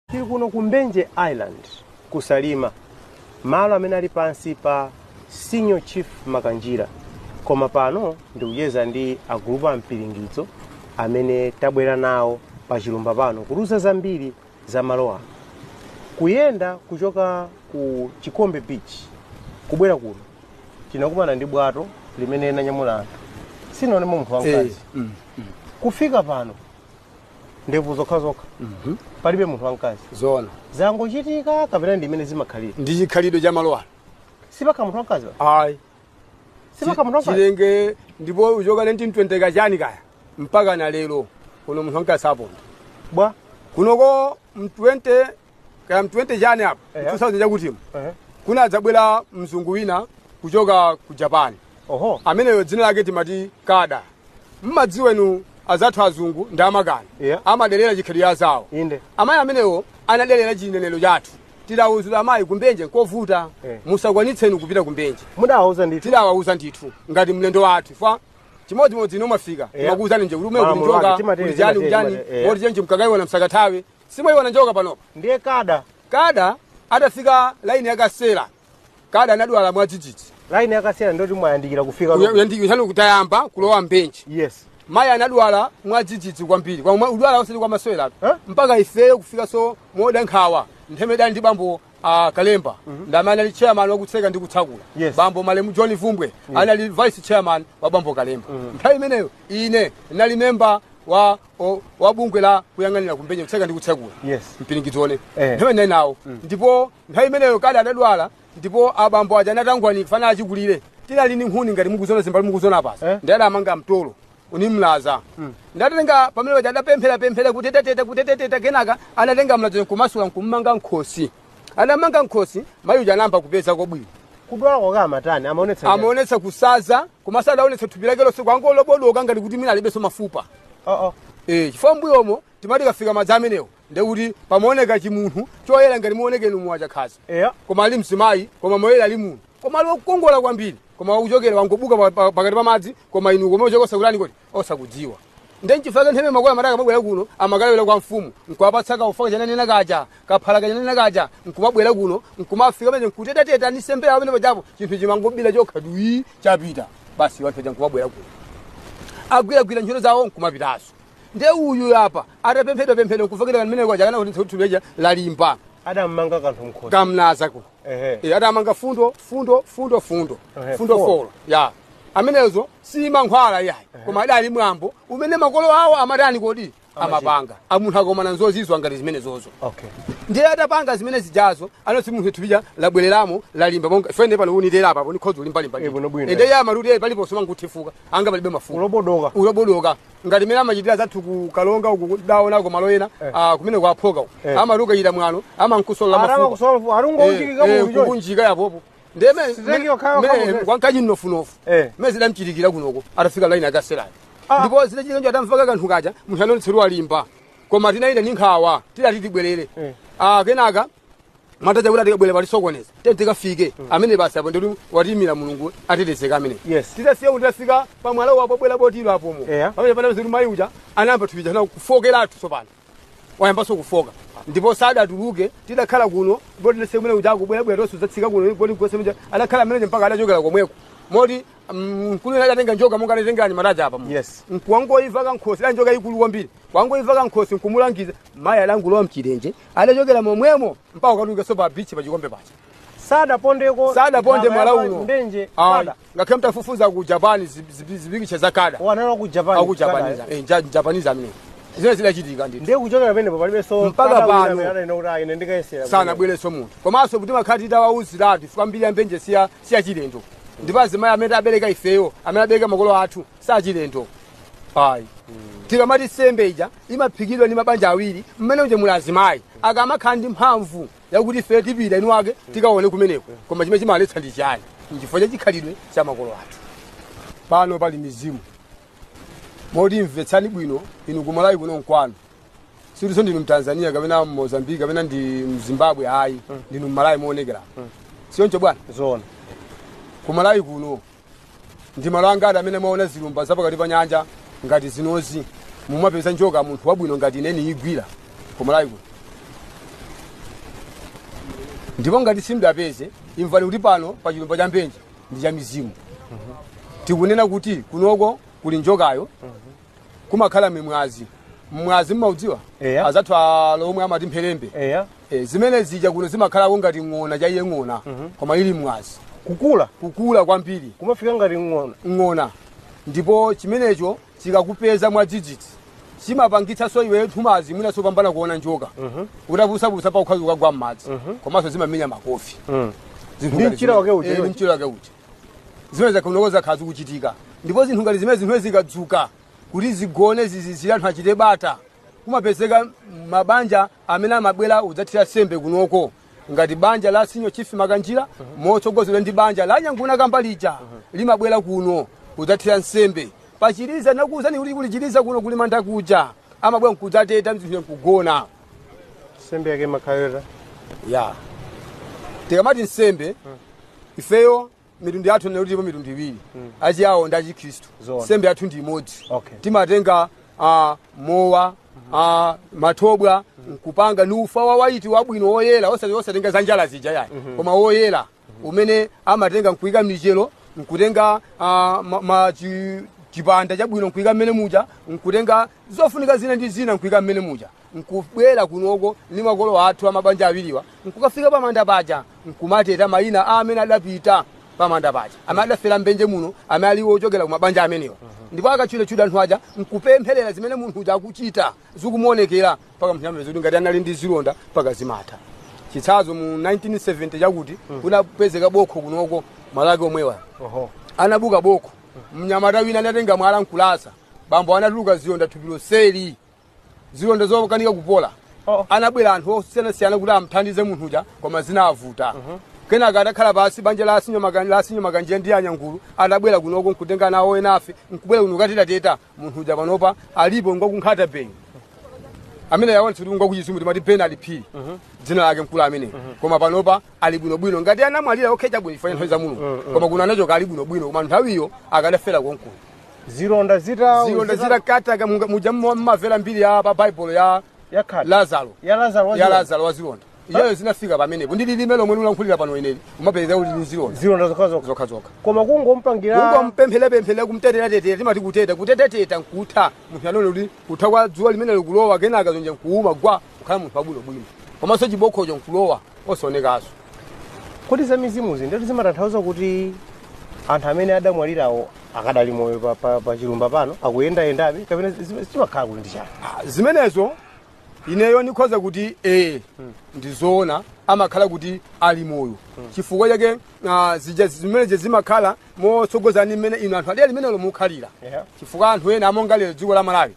Tili kuno ku Mbenje Island ku Salima, malo amene ali pansi pa Senior Chief Makanjira, koma pano ndikucheza ndi agulupu a mpiringidzo amene tabwera nawo pa chilumba pano kutiuza zambiri za malo ano. Kuyenda kuchoka ku Chikombe Beach kubwera kuno tinakumana ndi bwato limene linanyamula anthu sinaonemo munthu wamkazi kufika pano ndevu zokha zokha palibe munthu wamkazi zoona zangochitika kapena ndi mmene zimakhalira ndi chikhalidwe cha malo ano sipafika munthu wamkazi wa? ayi sipafika munthu wamkazi chilenge ndipo kuchoka 1920 kachani kaya mpaka na lero kuno munthu wamkazi saponda bwa kunoko m20 kaya mu 20 chani apa Ehe. 2000 chakutimu Ehe. kuna adzabwera mzungu wina kuchoka ku japan oho ameneyo dzina lake timati kada mmadziwa inu azathu azungu ndi amakani Yeah. amadelera chikhalidwe zawo inde amayi amenewo anadelera chinenero chathu tidawuzula amayi kumbenje nkovuta Eh. musakwanitse inu kupita kumbenje mudawauza ndithu tidawawuza ndithu ngati mlendo wathu fa chimodzimodzi ino mwafika Yeah. makuwuzani nje kuti umene Malamulo kulichoka ake, timatele, kulijani timatele, kulijani timatele, yeah. moti chenje mkakaiwa na msakathawe Simuiwona njoka panopa? Ndiye kada. Kada atafika laini ya Kasera, kada anadwala mwadzidzidzi. Laini ya Kasera ndikuti mwayandikira kufika. Uya- uyandikira, chanu kutayamba kulowa Mbenje. Yes. Mayi anadwala mwadzidzidzi kwambiri. Kudwala osati kwa masewera. Eh? Mpaka ifeyo kufika pomada nkhawa. Nthawi imeneyo tidali ndi bambo a Kalemba. Ndi amene anali chairman wa kutseka ndi kutsakula. Yes. Bambo Malemu John Vumbwe anali vice chairman wa bambo Kalemba. Nthawi imeneyo ine ndinali member wa o- wa bungwe la kuyang'anira ku Mbenje kutseka ndi kutsakula Yes. mpiringidzo Eh. nthawi ndinali nawo ndipo nthawi imeneyo Kada adadwala ndipo abambo aja anatangwanika pofuna achikulire tinali ni nkhuni ngati mukuzona zimbali mukuzona Eh. pasi ndi adamanga mtolo ni mlaza atatenga pamene paja adapempherapemphera kuteteteta kuteteteta kenaka anatenga mlaza nkumasula nkummanga mkhosi adammanga mkhosi mayi uja anayamba kupezako bwino kudwala kwake amatani amaonetsa njala. amaonetsa kusaza komanso adaonetsa thupi lake lonse kwangolobodoka ngati kuti mwina alibenso mafupa Oh, oh. Eh, chifukwa mbuyomo timati kafika madzi amenewo ndekuti pamaoneka chimunthu choyera ngati muonekera mu wachakhaza Eya. koma ali mzimayi koma moyera ali munthu koma ali wokongola kwambiri koma wakuchokera wangobuka pa- pa- pakati pa madzi koma inu koma uchokosa kulani kodi osakudziwa ndi nchifukwa nthawi imene makolo amati akamabwera kuno amakalawira kwa mfumu nkuwapatsa kaufa kachananena kaja kaphala kachananena kaja nkumabwera kuno nkumafika pamene nkutetateta ni sembe yawo pamene pajapo chinthu chimangobira chokha dwi chapita basi iwo anthu aja nkumabwera kuno agwiragwira ntchito zawo nkumapitanso nde uyu apa atapemphedwa pemphedwa nkufakira kamene kwaja kenaka kuti thupi laja lalimba adammanga kanthu mkhosi kamlaza kuno Ehe. Eh, adamanga fundo fundo fundo fundo Ehe, fundo folo. folo ya amenezo si mankhwala yayi koma adali mwambo umene makolo awo amatani kodi amapanga amunthu akomana nzozizwa ngati zimenezozo Okay. ndiye atapanga zimene zijazo anoti munthu thupija labwereramo lalimba monga ifene pano unitera apa po ndikhoza kulimbalimba Eh, bwinobwino. ndiye amati ali paliponse amangotifuka ngati palibe mafupa Ulobodoka. ulobodoka ngati mmene amachitira zathu ku kalonga uku ndidaonako malo ena ah, kumene kwaphoka uku Eh. amati ukachita mwano amankusola Araba mafupa kusolve arungo Eh, unjikika eh, mu njoyi. kukunjika yapopo ndeme Sizenge okhayo okhayo. kwankanyi mnofunofu Eh. mene zidamuchitikira kunoko atafika laini akaselani Ah. ndipo zidachitika njo atamupaka kanthu kaja munthu anonetseru alimba koma tinali ndi nkhawa tidati tibwerere Eh. Ah, kenaka mwataja kuti atikabwere palisokoneza te tikafike amene basi apo ndikuti watimira mulungu atetezeka amene Yes. titasiya kuti tafika pamwala wapo bwera botiro apomo Eya. pamene pana ziri mayi uja anayamba thupi lija kufokeratu tsopano wayambanso kufoka ndipo sadatuluke tidakhala kuno ndipo tinasiya kumene uja akubwerabwera tonse kudzatsika kuno boti kugwesa mja adakhala ameneje mpaka adachokera komweko moti mm, mkulu wina adatenga njoka monga anatengerani mataja apa Yes. wangoika pakhosi njoka yaikulu kwambiri wangoika pakhosi nkumulangiza mayi adangulowa mchilenje adachokera momwemo mpaka kukatulukanso pa bichi pa chikombe paja sadapondeko sadaponde mwala uno ndenje Ayi. kada ngakhale mtafufuza ku japan zi- zi- zipikitcha za kada analowa ku japan aku kada, japanese eh. Eh, ja- japanese amene zimene zidachitika ndithu ndiye kuchokera penepo palibenso Mpaka kada wina pano. amene adaina kuti ayi, ine ndikayesera sanabwerenso munthu komanso kuti timakhala titawauziratu chifukwa mbiri ya mbenje siya siyachilendo ndipo azimayi amene abereka ifeyo amene abereka makolo athu sachilendo ayi tikamati sembe ija imaphikidwa ndi mabanja awiri mmene uje muli azimayi akamakhala ndi mphamvu yakuti ife tipite inu wake tikaone kumeneko koma chimene chimaletsa ndi chani nchifukwa cha chikhalidwe cha makolo athu pano pali mizimu moti mvetsani bwino inu kumalawi kuno mkwanu silinso ndinu mtanzania kapena mmozambiki kapena ndi mzimbabwe ayi ndinu mmalawi moonekera sioncho bwana zoona kumalawi kuno ndi malo angati amene mwaona zilumba za pakati pa nyanja ngati zinozi mumapeza njoka munthu wabwino ngati ine ndiyigwira kumalawi kuno ndipo ngati simudaipeze imvani kuti pano pa chilumba cha mbenje ndi cha mizimu tikunena kuti kunoko kuli njokayo kumakhala ming'azi mng'azi mmaudziwa Eya. azathu alomwe amati mpherembe eya Eh, zimene zija kuno zimakhalako ngati ng'ona chaiyo ng'ona koma ili mng'azi kukula kukula kwambiri kumafika ngati ng'ona ng'ona ndipo chimenecho chikakupeza mwadzidzidzi chimapangitsanso iwe nthumazi mwinanso kupambana kuona njoka utapusapusa pa ukhoza kugwa mmadzi komanso zimamenya makofi Zinthu Ndi ngati mchira wake zimene- uja, eh, ndi iwe. mchira wake uja zimene zakunoko zakhala zikuchitika ndipo zinthu ngati zimenezi zikadzuka kuti zigone zizizire anthu achite bata kumapezeka mabanja amene amabwera kudzathira nsembe kunoko ngati banja la senior chief makanjira motsogozedwa ndi banja la nyangu nakambalija limabwera kuno kudzathira nsembe pachiliza nakuuzani kuti kuli chiliza kuno kuli manda kuja amabwera nkudzateta zinthu nkugona nsembe yake imakhala yotani tikamati nsembe ifeyo mitundu yathu ndinena kuti ilipo mitundu iwiri achiyawo ndi achikhristu Zoona. nsembe yathu ndi imodzi Okay. timatenga ah, mowa ah, mathobwa nkupanga ndi ufa wa waiti wabwino woyera osati osatenga za njala zija yayi koma woyera umene amatenga nkuika mlichero nkutenga ah, ma- ma- chi- chipanda chabwino nkuika mmene muja nkutenga zofunika zina ndi zina nkuika mmene muja nkubwera kunoko ndi makolo athu amabanja awiriwa nkukafika pamanda paja nkumateta mayina a amene adapita pamanda paja amene adafera mbenje muno amene ali ochokera kumabanja amenewa ndipo akatchulatchula anthu aja nkupempherera zimene munthu uja akuchita zikumuonekera mpaka munthu amapeza kuti ngati anali ndi zilonda mpaka zimatha chitsanzo mu 1970 chakuti kunapezeka bokho kunoko malaki omwewa Oho. anabuka bokho mnyamata wina anatenga mwala nkulasa pompo anatuluka zilonda thupi lonseli zilonda zokanika kupola Oh. anabwera anthu osiyanasiyana kuti amthandize munthu uja koma zinavuta kenaka atakhala pansi banja la a senior Makan- la a senior makanjira ndi anyangu anabwera kunoko nkutenga nawo enafe nkubwera kuno kutetateta munthu uja panopa alipo ngwakunkhata bay amene yaonetsa kuti ngwakuchizumulu timati bernard phiri dzina lake mkulu ameneyi koma panopa ali bwinobwino ngati anamwalira ok chabwino chifukwa cha nthawi za mulungu koma kuno anachoka ali bwinobwino koma nthawiyo akadafera konkuno zilonda zita zilonda zitakataka muja mumamvera mbiri ya pa baibulo ya yakhata lazaro ya lazaro ya lazaro wazilonda iyayo zinafika pamenepo ndi lilime lomwe ndikulankhulira pano ineli umapeza kuti ndi zilonda zilonda zokhazokha zokhazokha koma kungompangira kungompempherapemphera kumteteratetera timati kuteta kutetateta nkutha munthu anaona kuti kutha kwa dzuwa limene likulowa kenaka zilonda nkuuma gwa kukhala munthu wabwinobwino komanso chibokhocho nkulowa osaonekanso kodi za mizimuzi ndiye kuti zimatanthauza kuti anthu amene adamwalirawo akadali moyo pa- pa pa chilumba pano akuyendayendabe kapena zim- zimakhala kuti ndi chani Ah, zimenezo ineyo ndikhoza kuti ee ndizoona amakhala kuti ali moyo chifukwa chake ah, zija zimenezi zimakhala motsogozana ndi mmene inu anthu adera limenelo mukukhalira Yeah. chifukwa anthu ena monga lero dziko la malawi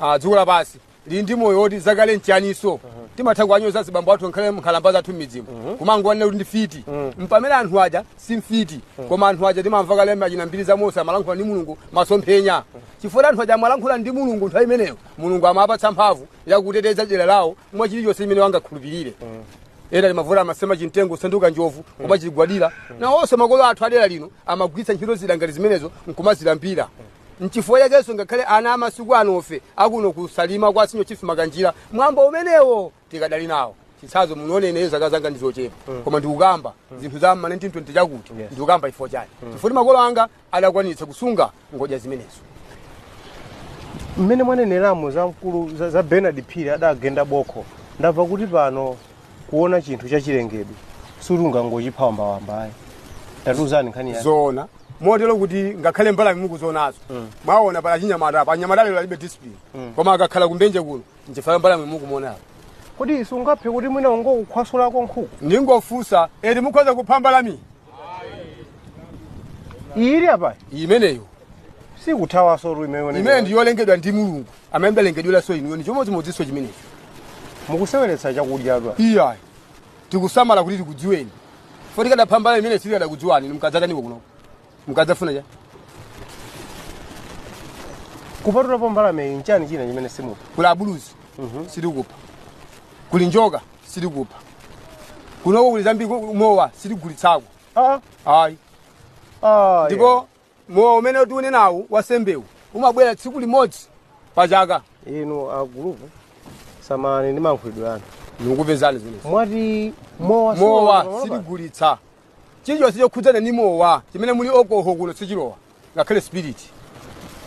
ah, dziko lapansi lili ndi moyo woti zakale nchiyaniso timatha kuwanyoza azibambo athu nkhalamba nkhalamba zathu m'midzimu kumangowanena kuti ndi mfiti pamene anthu aja si mfiti koma anthu aja timamva kale muchina mbiri za mose amalankhula ndi mulungu masomphenya chifukwa anthu aja amalankhula ndi mulungu nthawi imeneyo mulungu amapatsa mphamvu yakuteteza dera lawo mwa chilichonse chimene angakhulupirire ena timamva amasema chimtengo kusanduka njovu kumachigwadira nawonso makolo athu adera lino amagwiritsa ntchito zida ngati zimenezo nkumazilambira nchifukwa chakenso ngakhale ana amasiku anofe akuno ku Salima kwa senior chief makanjira mwambo umenewo tikadali nawo chitsanzo muone ineyo zaka zanga ndizochepa koma ndikukamba zinthu za ma 1920 chakuti Yes. ndikukamba chifukwa chani chifukwa makolo anga adakwanitsa kusunga ngodya zimenezo mmene mwaneneramo za mkulu za, za bernard phiri adagenda bokho ndamva kuti pano kuona chinthu chachilengedwe siungangochipha wambawambayi tatiuzani nkhani yake zoona motero kuti ngakhale mbalame mukuzionazo mwaona pali achinyamata apa anyamata lero alibe discipline koma akakhala kumbenje kuno nchifukwa mbalame mukuiona apa kodi sungaphe kuti mwina ungokukhwasulako nkhuku ndingofunsa eti mukhoza kupha mbalame ili apa imeneyo sikuthawaso tu imene imene ndiyolengedwa ndi mulungu amene mudalengedweranso inuyo ndi chimodzimodzinso chimenecho mukuseweretsa chakudya tu iyayi tikusamala kuti tikudziweni poti tikadapha mbalame imene sitikadakudziwani mukadzataniko kunoko mukadzafuna cha kupatulapo mbalameyi nchani china chimene simupha kuli abuluzi sitikupha kuli njoka sitikupha kunoko kuli zambiri ku- mowa sitigulitsako Ah, ayi ah, ndipo mowa umene tili nawo wansembewu umabwera tsiku limodzi pa chaka yeah. inu agulupu tsamani ndi mankhulidwe anu ndikupezani zimenezi mwati mowa mowa siwa- sitigulitsa chilichonse chokhudzana ndi mowa chimene muli alcohol kuno sichilowa ngakhale spirit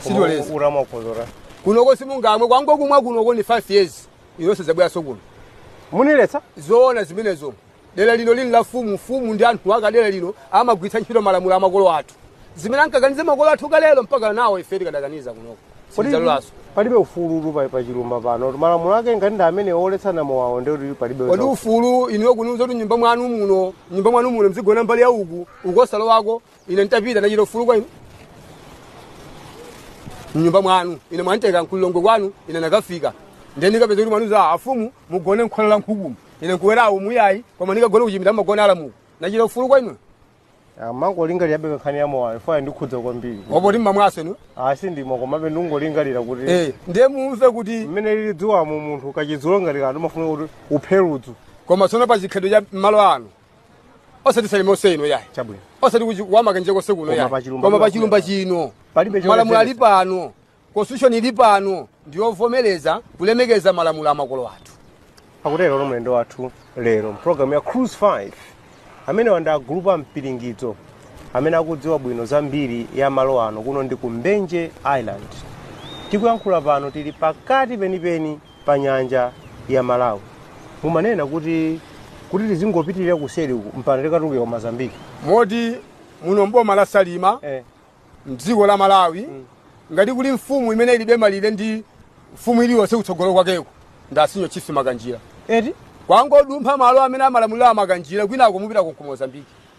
sitiloleza olo mongozola kunoko simungamwe kungokumwa kunoko ni 5 years inunso simudzabweranso kuno mundiletsa zoona zimenezo dera lino lili la mfumu mfumu ndi anthu ake dera lino amagwiritsa ntchito malamulo a makolo athu zimene ankakaniza makolo athu kalelo mpaka nawo ife tikadakaniza kunoko Kodi Sidzalolanso. palibe ufulu pa pa chilumba pano malamulo ake ngati ndi amene oletsana mowawo ndi kuti palibe kodi za- ufulu inuyo kuniuza kuti nyumba mwanu muno nyumba mwanu muno mzigona mbali ya uku uko usalowako ine ntapita ndachita ufulu kwa inu mnyumba mwanu ine mwanditenga ku lilongwe kwanu ine nakafika ndiye ndikapeza kuti mwandiuza afumu mugone mkhola la nkhukumu ine nkubwera umo iyayi koma ndikagone kuchipinda mmagona alamuku ndachita ufulu kwa inu ndimangolingalirabe nkhani ya mowayo pa yandikhudza kwambiri opo timamwaso inu asi ndimo komabe ndingolingalira kuti Eh, ndiye mumve kuti mmene lili dzuwamo munthu kachidzulo ngati kanthu umafuna kuti uphe ludzu koma tsono pa chikhalidwe cha malo ano osati salima yonse ino yayi chabwino osati kuchi- kwa makanjira konse kuno Koma yayi pa chilumba koma pa chino. chilumba chino Palibe chimene malamulo ali chete. pano Constitution ili pano ndi yovomereza kulemekeza malamulo a makolo athu. Akuterowo ndi mlendo wathu lero mpulogalamu ya Cruise 5 amenewa ndi a gulupu a Mpiringidzo amene akudziwa bwino zambiri ya malo ano kuno ndi ku Mbenje Island. Tikuyankhula pano tili pakati penipeni pa nyanja ya Malawi. Mumanena kuti tizingopitirira kuseri uku mpaka tikatuluke ku Mozambique. Moti muno mboma la Salima Eh. mdziko la malawi ngati kuli mfumu imene ilibe malire ndi mfumu iliyonse kutsogolo kwakeko ndi a Senior Chief makanjira eti kwangodumpha malo amene amalamulira amakanjira kwinako mupita ku mozambiki